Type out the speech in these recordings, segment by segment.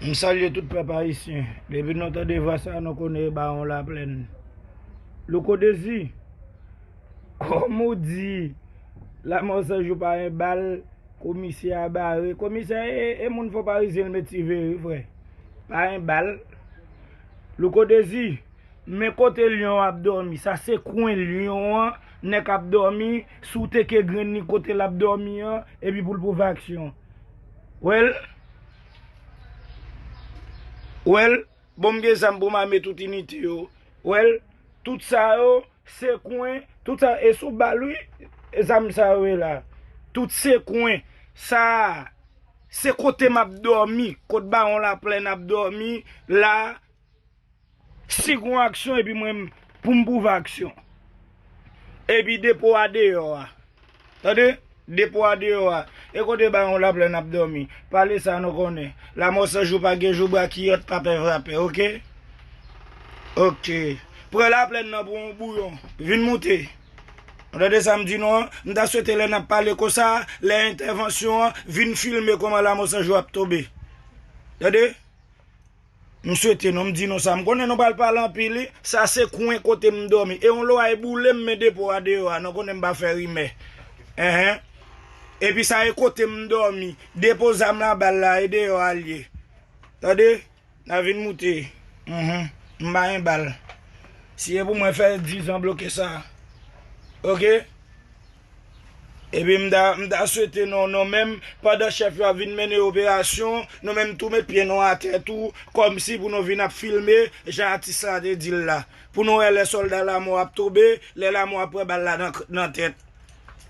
M salye tout pèp ayisyen. Depi nou tande vwa sa nou konnen e bawon laplèn. Louko Dezi, kòm ou di lanmò san jou pa yon bal, komisè a bare. Komisè e moun fò parizyen l met sive wi frè. Pa yon bal. Louko Dezi, men kote lyon ap dòmi. Sa se kwen lyon an nèk ap dòmi sou teke grenn li kote l ap dòmi an epi pou l pwouve aksyon. Well Well Bon m gen zam pou m ame tout inite yo Well Tout sa yo se kwen Tout sa yo e sou bal wi zam sa yo ye la Tout se kwen Sa a Se kote m ap dòmi Kot bawon laplèn ap dòmi la. Si gon aksyon epi mwen m pou m pwouve aksyon. Epi depo a deyò a. Tande, depo a deyò a. E kote baron Laplèn ap dòmi? Pale sa nou konnen. Lamò san jou pa gen jou brakiyòt pa pè vrapè ok. Ok. Pran Laplèn nan pou yon bouyon. Vin moute. Ou tande sa m di nou an? M ta swete lè n ap pale konsa a, lè entèvansyon an, vin filme kòman Lamò san jou ap tonbe. Tande? M swete non m di nou sa m konnen nou pral pale anpil wi sa se kwen kote m dòmi e yon loray boule m men depo a deyò a nou konnen m pa fè rimè enhen epi sa e kote m dòmi depo zam la bal la e deyò a l ye tande na vin moute uhmm m pa yon bal si e pou mwen fè dizan bloke sa ok. Epi m ta m ta swete nou nou menm pandan chèf yo ap vin mennen operasyon nou menm tou met pye nou atè tou kòmsi pou nou vin ap filme jan atis la te di l la pou nou wè lè sòlda lamò ap tonbe lè lamò ap pran bal la nan nan tèt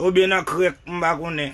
oubyen nan krèk m pa konnen.